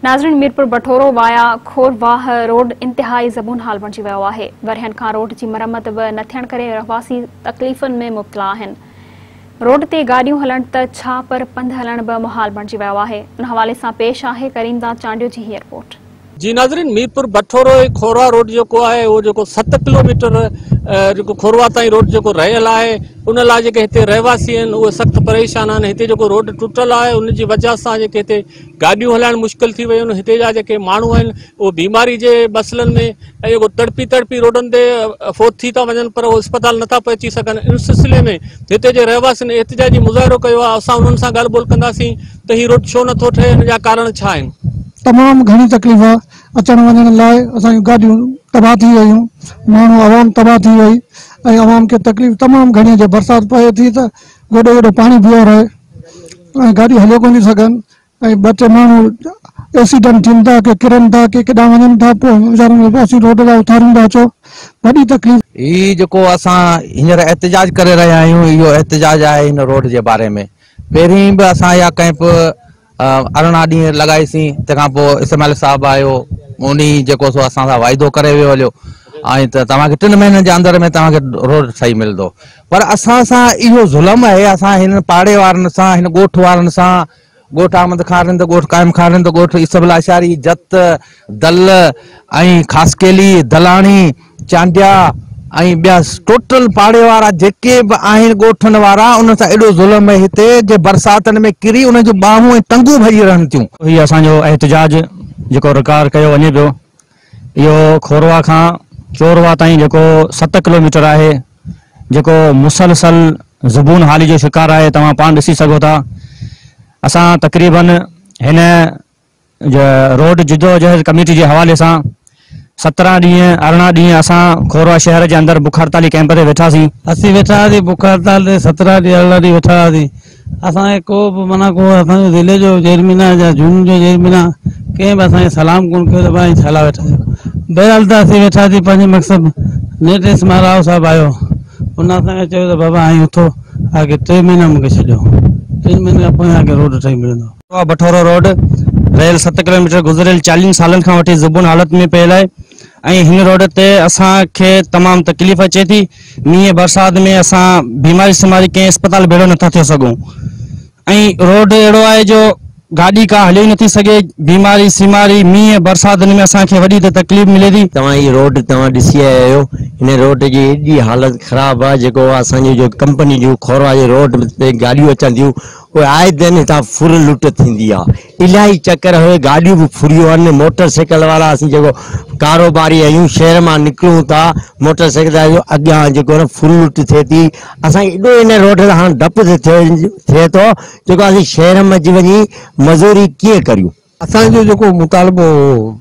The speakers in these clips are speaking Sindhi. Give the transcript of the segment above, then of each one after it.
ناظرين ميرپوربٺورو وايا کورواهه روڊ انتهائي زبون حال بڻجي ويو آهي ورهين کان روڊ جي مرمت به نه ٿيڻ ڪري رهواسي تڪليفن ۾ مبتلا آهن روڊ تي گاڏيون هلڻ ته ڇا پر پنڌ هلڻ به محال بڻجي ويو آهي ان حوالي سان پيش آهي ڪريمداد چانڊيو جي هي رپورٽ. جي ناظرين ميرپوربٺورو کورواهه روڊ جيڪو آهي اهو جيڪو ست ڪلوميٽر جيڪو کورواهه تائين روڊ جيڪو رهيل آهي ان لاء جيڪي هتي رهواسي آهن اهي سخت پريشان آهن هتي جيڪو روڊ ٽٽل آهي ان جي وجه سان جيڪي هتي گاڏيون هلائڻ مشڪل ٿي ويون آهن هتي جا جيڪي ماڻهو آهن اهي بيماري جي مسئلن ۾ اهي تڙپي تڙپي روڊن تي فوت ٿي ٿا وڃن پر اهي اسپتال نٿا پهچي سگهن ان سلسلي ۾ هتي جي رهواسين احتجاجي مظاهرو ڪيو آهي اسان انهن سان ڳالهه ٻولهه ڪنداسين ته هي روڊ ڇو نٿو ٺهي ان جا ڪارڻ ڇا آهن. تمام گهڻي تڪليف آهي اچڻ وڃڻ لاء اسان جون گاڏيون تباهه ٿي ويون ماڻهو عوام تباهه ٿي وئي ۽ عوام کي تڪليف تمام گهڻي آهي جي برسات پوي ٿي ته گوڏو گوڏو پاڻي پيئي رهي ۽ گاڏي هليو ڪو نه سگهن ۽ ٻه ٽي ماڻهو ايڪسيڊنٽ ٿين ٿا ڪي ڪرن ٿا ڪي ڪيڏانهن وڃن ٿا پوء ويچارن کي اسين روڊ تان اٿاريون ٿا اچو وڏي تڪليف هي جيڪو اسان هينئر احتجاج ڪري رهيا آهيون اهو احتجاج آهي هن روڊ جي باري ۾ پهرين به اسان اها ڪئمپ ارڙهن ڏينهن لڳائيسين تنهن کان پوء اسماعيل صاحب آيو انهي جيڪو سو اسان سان واعدو ڪري ويو هليو ۽ ته توهان کي ٽن مهينن جي اندر ۾ توهان کي روڊ ٺهي ملندو پر اسان سان اهو ظلم آهي اسان هن پاڙي وارن سان هن ڳوٺ وارن سان ڳوٺ احمد خان رند ڳوٺ قائم خان رند ڳوٺ يوسف الله اشاري جت دل ۽ خاصخيلي، دلاڻي، چانڊيا ۽ ٻيا ٽوٽل پاڙي وارا جيڪي به آهن ڳوٺن وارا انهن سان ايڏو ظلم اهي هتي جي برساتن ۾ ڪري انهن جون ٻانهون ۽ ٽنگون ڀڄي رهن ٿيون. هي اسان جو احتجاج جيڪو رڪارڊ ڪيو وڃي پيو اهو کوروا کان چوروا تائين جيڪو ست ڪلوميٽر آهي جيڪو مسلسل زبون حالي جو شڪار آهي توهان پاڻ ڏسي سگهو ٿا اسان تقريبن هن جي روڊ جدوجهد ڪميٽي جي حوالي سان سترهن ڏينهن ارڙهن ڏينهن اسان کوروا شهر جي اندر بک هڙتالي ڪئمپ تي ويٺا سين. اسين ويٺا هئاسين بک هڙتال تي سترهن ڏينهن ارڙهن ڏينهن ويٺا هئاسين اسان کي ڪو به معنيٰ ڪو اسان جو ضلعي جو چيئرمينان يا زون جو چيئرمينان ڪنهن به اسان کي سلام ڪونه ڪيو ته ڀاء ائين ڇا لاء ويٺا آهيو بهرحال ته اسين ويٺا سين پنهنجي مقصد نيٺ ايس ما راء صاحب آيو ان اسان کي چيو ته بابا ائين اٿو آگي ٽي مهينا مون کي ڇڏيو ٽن مهينن کان پوء اوهان کي روڊ ٺهي ملندو. ڪنڊوا بٺورو روڊ رهيل ست ڪلوميٽر گذريل چاليهن سالن کان وٺي زبون حالت ۾ پيل آهي ۽ هن روڊ تي اسان کي تمام تڪليف اچي ٿي مينهن برسات ۾ اسان بيماري سيماري ڪنهن اسپتال ڀيڙو نٿا ٿي سگهون ۽ روڊ اهڙو آهي جو گاڏي ڪا هلي نٿي سگهي بيماري سيماري مينهن برسات ۾ اسان کي وڏي ته تڪليف ملي ٿي. توهان هي روڊ توهان ڏسي آيا آهيو هن روڊ جي ايڏي حالت خراب آهي جيڪو اسان جي جو ڪمپني جون کورواجي روڊ تي گاڏيون اچن ٿيون پوء آئي دن هتان ڦر لٽ ٿيندي آ. الاهي چڪر هوء گاڏيون به ڦريون آهن. موٽر سائيڪل وارا اسين جيڪو ڪاروباري آهيون شهر مان نڪرون ٿا موٽر سائيڪل تي آهيون اڳيان جيڪو نه ڦر لٽ ٿئي ٿي اسان کي ايڏو ان روڊ تان هاڻ ڊپ ٿئي ٿو جيڪو اسين شهر مئن وڃي مزوري ڪيئن ڪريون. اسان جو جيڪو مطالبو هو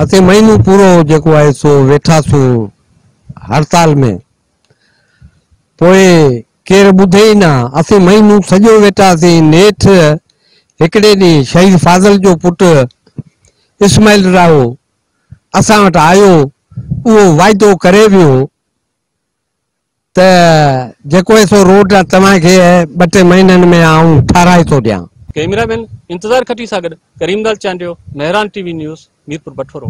اسين مهينو پورو جيڪو آهي سو ويٺاسون هڙتال ۾. پوء ڪير ٻڌي ئي نه. اسين مهينو سڄو ويٺاسين. نيٺ هڪڙي ڏينهن شهيد فاضل جو پٽ اسماعيل راهو اسان وٽ آيو. اهو وعدو ڪري ويو ته جيڪو هي سو روڊ توهان کي ٻه ٽي مهينن ۾ آئون ٺاهرائي ٿو ڏيان. ڪئميرا مين انتظار کٽي سان گڏ Karim Lal Chandio, Mehran TV news, Mirpur Bathoro.